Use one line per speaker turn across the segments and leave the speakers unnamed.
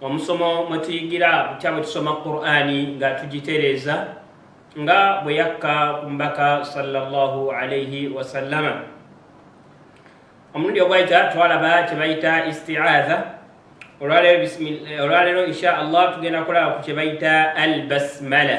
omusomo mwe tuyigira butya bwe tusoma qurani nga tugitereeza nga bwe yakka ku mbaka salllahu alaihi wasallama omulundi ogwayita twalaba kye bayita istiaadha olwaleero insha allah tugenda kulaba ku kye bayita al basmala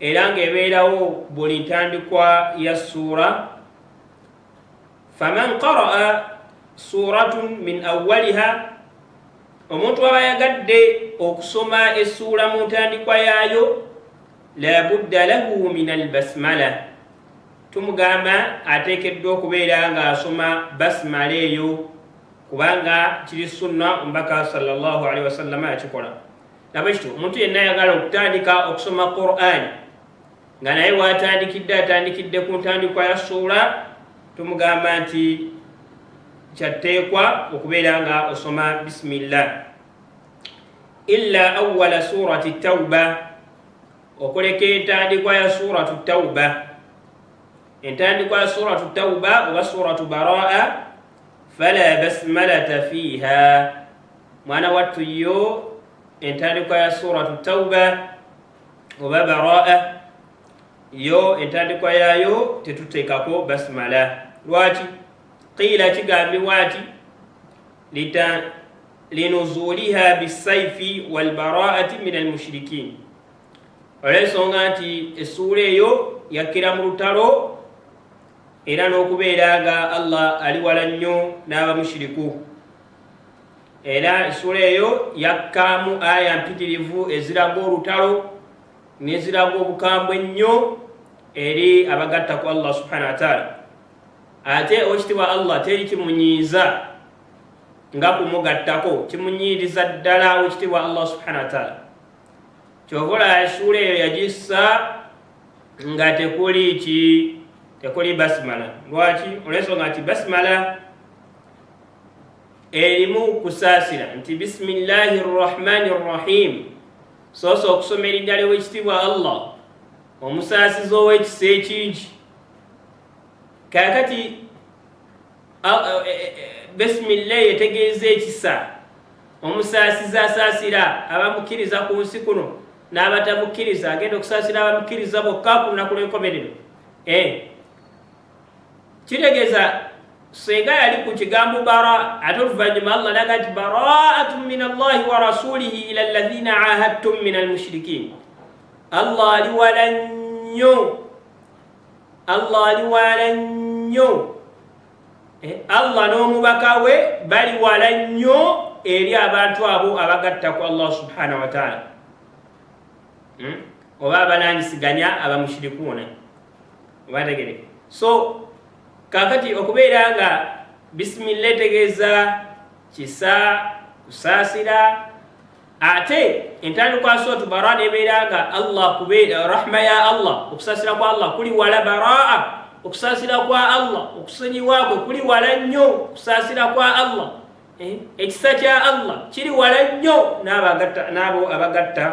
Era ng'ebeerawo buli ntandikwa ya ssuura, faman qara'a suuratun min awwaliha, omuntu aba ayagadde okusoma essuula mu ntandikwa yaayo, la budda lahu min albasmala, tumugamba ateekeddwa okubeera ng'asoma basmala eyo kubanga kiri sunna omubaka sallallahu alaihi wasallama yakikola. laba ekito omuntu yenna ayagala okutandika okusoma quran nga naye waatandikidde atandikidde ku ntandikwa ya suula tumugamba nti kyatteekwa okubeera nga osoma bisimillah illa awala surati tauba okuleka entandikwa ya suratu tauba entandikwa ya suratu tauba oba suratu baraa fala basmalata fiiha mwana wattu yo entandikwa ya suratu tauba oba baraa yo entandikwa yaayo tetuteekako basimala lwaki qiila kigambibwa nti linuzuliha bisaifi walbaraati min almushirikin olwensonga nti essuula eyo yakkira mu lutalo era n'okubeera nga allah ali wala nnyo n'abamushiriku era esula eyo yakkaamu aya mpitirivu eziraga olutalo neziraga obukambwe ennyo eri abagatta ku allah subhana wataala ate owekitibwa allah teri kimunyiiza nga kumugattako kimunyiiriza ddala owekitibwa allah subhana wataala kyovola esuula eyo yagissa nga tekuli ki tekuli basimala lwaki olwensonga nti basimala erimu kusaasira nti bisimillahi rrahmani rrahim soosa okusoma eriddala ewekitiibwa allah omusaasizi ow'ekisa ekingi kakati e, e, e, bisimillahi etegeeza ekisa omusaasizi asaasira abamukkiriza ku nsi kuno n'abatamukkiriza agenda okusaasira abamukkiriza bokka ku lunaku lw'enkomerero eh. kitegeeza senga yali ku kigambo bara ate oluvannyuma allah naga nti baraatu min allahi wa rasulihi ila llazina ahadtum min almushrikin allah ali wala nnyo allah ali wala nnyo eh, allah n'omubaka we bali wala nnyo eri abantu abo abagatta ku allah subhanahu wataala hmm? oba abalangisiganya abamushirikuuna obategere so kakati okubeera nga bisimilla etegeeza kisa kusaasira ate entandikwa sootu baraa nebeera nga allah kubeera rahma ya allah okusaasira kwa allah kuli wala baraa okusaasira kwa allah okusonyiwakwe kuli wala nnyo okusaasira kwa allah eh, ekisa kya allah kiri wala nnyo n'abo abagatta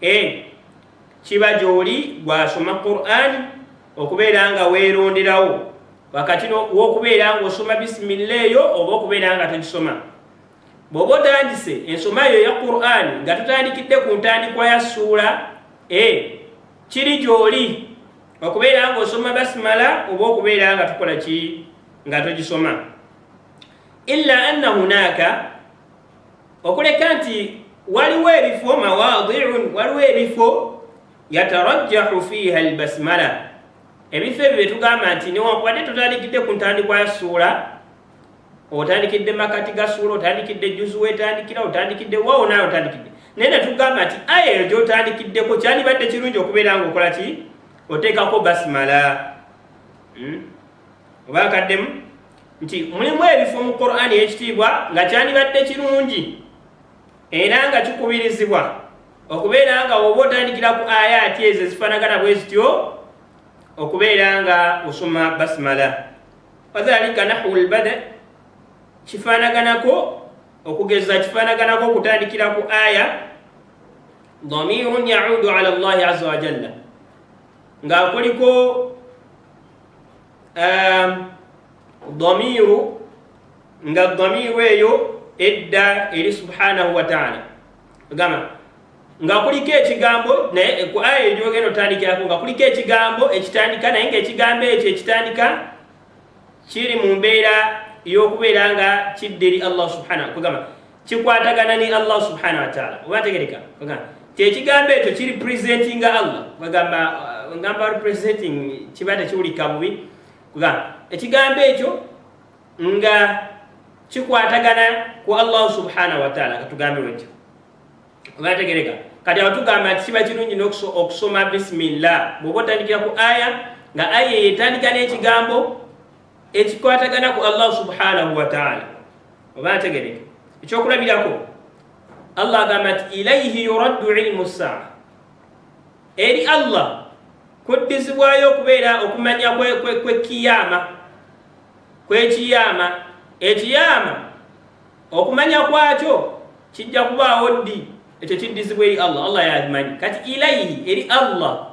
E. Kiba gy'oli gw'asoma Kuraani okubeera nga weeronderawo wakati w'okubeera ng'osoma bisimilla eyo oba okubeera nga togisoma. Bw'oba otandise ensoma eyo eya Kuraani nga totandikidde ku ntandikwa ya ssuula, e. Kiri gy'oli okubeera ng'osoma basimala oba okubeera nga tukola ki nga togisoma. Illa anna hunaaka. okuleka nti waliwo ebifo mawadiun waliwo ebifo yatarajjahu fiiha albasmala ebifo ebyo byetugamba nti newankubadde tutandikidde ku ntandikwa ya suula otandikidde makati ga suula otandikidde juzu wetandikira otandikidde wawo naye otandikidde naye netugamba nti aya eyo gyotandikiddeko kyandibadde kirungi okubeera nga okola ki oteekako basimala hmm? oba akaddemu nti mulimu ebifo mu qur'ani eyekitiibwa nga kyandibadde kirungi era nga kikubirizibwa okubeera nga oba otandikira ku ayaati ezo ezifanagana bwe zityo okubeera nga osoma basimala wadhalika nahu lbada kifanaganako okugeza kifanaganako okutandikira ku aya dhamirun yaudu ala llahi aza wajalla nga kuliko ehm, damiru nga damiru eyo edda eri subhanahu wataala gamba nga kuliko ekigambo naye ku aya eryogenda otandikirako nga kuliko ekigambo ekitandika naye nga ekigambo ekyo ekitandika kiri mu mbeera y'okubeera nga kidda eri allah subhanahu kugamba kikwatagana ne allah subhanahu wataala oba ategereka kyekigambo ekyo kiri presentinga allah agamba uh, ngamba presenting kiba tekiwulika bubi kugamba ekigambo ekyo nga kikwatagana ku allah subhanahu wataala katugambe wetyo oba ategereka kati awo tugamba nti kiba kirungi okusoma bisimillah bwoba otandikira ku aya nga aya eyo etandika n'ekigambo ekikwatagana ku Allah subhanahu wa ta'ala oba ategereke ekyokulabirako Allah agamba nti ilaihi yuraddu ilmu saa eri Allah kuddizibwayo okubeera okumanya kwekiyama kwekiyama ekiyama okumanya kwakyo kijja kubaawo ddi ekyo kiddizibwa eri Allah Allah yakimanyi kati ilaihi eri Allah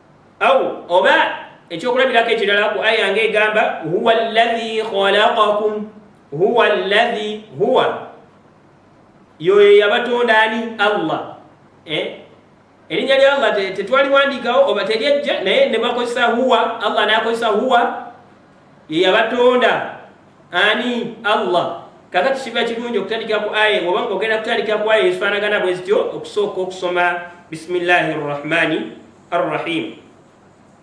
Aw, oba, eky'okulabirako ekirala ku aya nga egamba, Huwa alladhi khalaqakum, Huwa alladhi, Huwa, y'oyo eyabatonda ani? Allah. Eh? Erinnya lya Allah tetwaliwandiikawo oba teryajja naye ne bakozesa Huwa, Allah n'akozesa Huwa. Ye yabatonda ani? Allah. Kakati kiba kirungi okutandikira ku aya oba nga ogenda kutandikira ku aya ezifaanagana bwe zityo okusooka okusoma bisimillahi rrahmani arrahim.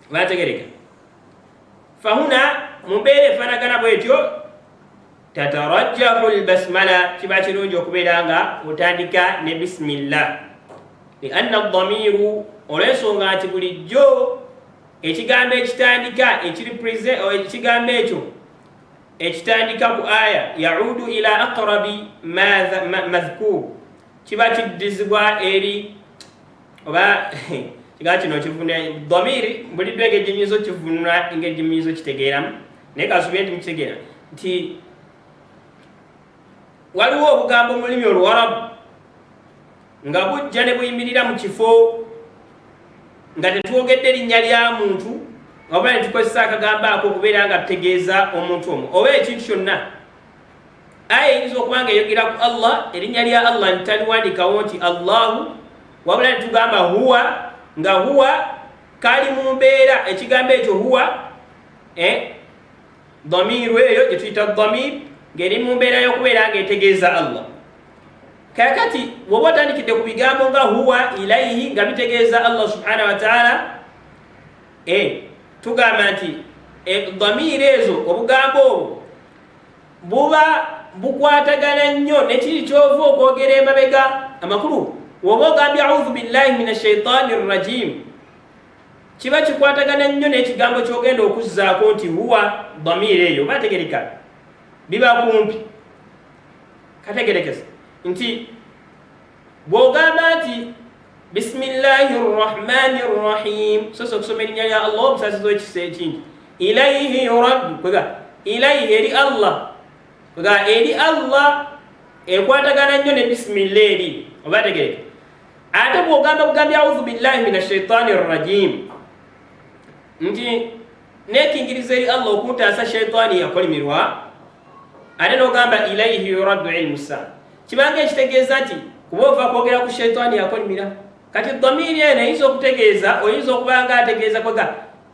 Bategereka fahuna mu mbeera efaanagana bwetyo tatarajjahu lbasmala kiba kirungi okubeera nga otandika ne bisimillah lianna damiru olwensonga nti bulijjo Ekigambo ekitandika ekiri prize oh, ekigambo ekyo ekitandika ku aya yaudu ila aqrabi madhkur kiba kiddizibwa eri oba kigaa kino kivuna dhamiri buliddwa engeri gyenyinza okivunula engeri gyenyinza okitegeeramu naye kasubire nti mukitegeera nti Waliwo obugambo mu lulimi Oluwarabu nga bujja ne buyimirira mu kifo nga tetwogedde erinnya lya muntu oba ne tukozesa akagambo ako okubeera nga tutegeeza omuntu omu oba ekintu kyonna. Aya eyinza okuba nga eyogera ku Allah, erinnya lya Allah ntitaliwandiikawo nti Allahu, wabula ne tugamba huwa nga huwa kali mu mbeera ekigambo ekyo huwa eh, damiiru eyo gye tuyita damiir ng'eri mu mbeera y'okubeera ng'etegeeza allah kakati woba otandikidde ku bigambo nga huwa ilaihi nga bitegeeza allah subhanahu wataala e eh, tugamba nti eh, damiiru ezo obugambo obwo buba bukwatagana nnyo nekiri kyova okwogera emabega amakulu woba ogambye auzu billahi min ashaitaani rrajiimu Kiba kikwatagana nnyo n'ekigambo ky'ogenda okuzzaako nti huwa damiira eyo oba ategereka biba kumpi kategerekesa nti bw'ogamba nti bisimillahi rrahmani rrahim sosa okusoma erinnya lya allah obusaasiza ekisa ekingi ilaihi yuraddu kwega ilaihi eri allah kwega eri allah ekwatagana nnyo ne bisimilla eri oba ategereka ate bwogamba bugambi audhu billahi min ashaitani rrajim nti nekingiriza eri allah okuntaasa shaitani yakolimirwa ate nogamba ilaihi yuraddu ilmu saa kibanga ekitegeeza nti kuba ova kwogera ku shaitani yakolimira kati damiiri eno eyinza okutegeeza oyinza okubanga ategeeza kwega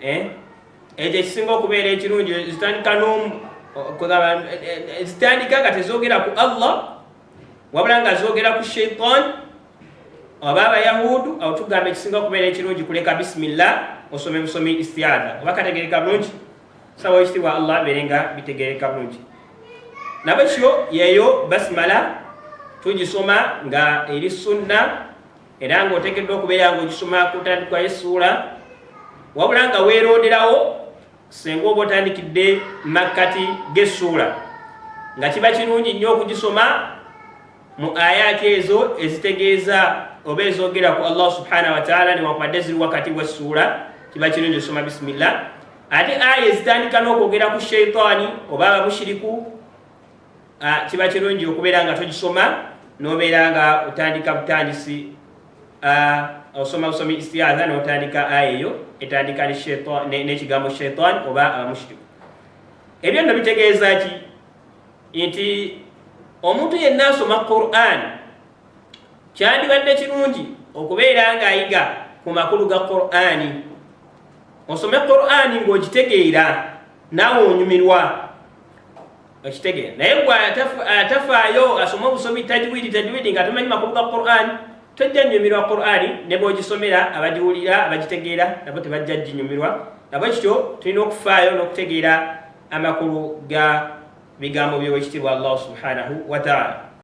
eh? ekyo ekisinga okubeera ekirungi zitandika nomu zitandika nga tezogera ku allah wabula nga zogera ku shaitan oba abayahudu awo tugamba ekisinga okubeera ekirungi kuleka bisimillah osome busomi istiada oba kategereka bulungi sawa ekitibwa allah abeere nga bitegereka bulungi nabwekyo yeyo basimala tugisoma nga eri sunna era nga otekeddwa okubeera nga ogisoma kutandikwa esuula wabula nga weeronderawo senga oba otandikidde makkati g'essuula nga kiba kirungi nnyo okugisoma mu ayaati ezo ezitegeeza oba ezogera ku allah subhanahu wataala newakubadde ziri wakati w'essuula kiba kirungi osoma bisimillah ate aya ezitandika n'okwogera ku sheitaani oba abamushiriku kiba kirungi okubeera nga tugisoma nobeera nga otandika butandisi osoma busomi istiaza notandika aya eyo etandika nekigambo shaitan oba abamushiriku ebyo nno bitegeeza ki nti omuntu yenna asoma quran kyandibadde kirungi okubeera nga ayiga ku makulu ga qurani osome qurani ng'ogitegeera naawe onyumirwa okitegere naye gwe atafaayo asoma obusomi tajwidi tajwidi nga tumanyi makulu ga quran tojja nyumirwa qurani ne bwogisomera abagiwulira abagitegeera nabo tebajja ginyumirwa nabo kityo tulina okufaayo n'okutegeera amakulu ga bigambo byowekitiibwa allahu subhanahu wataala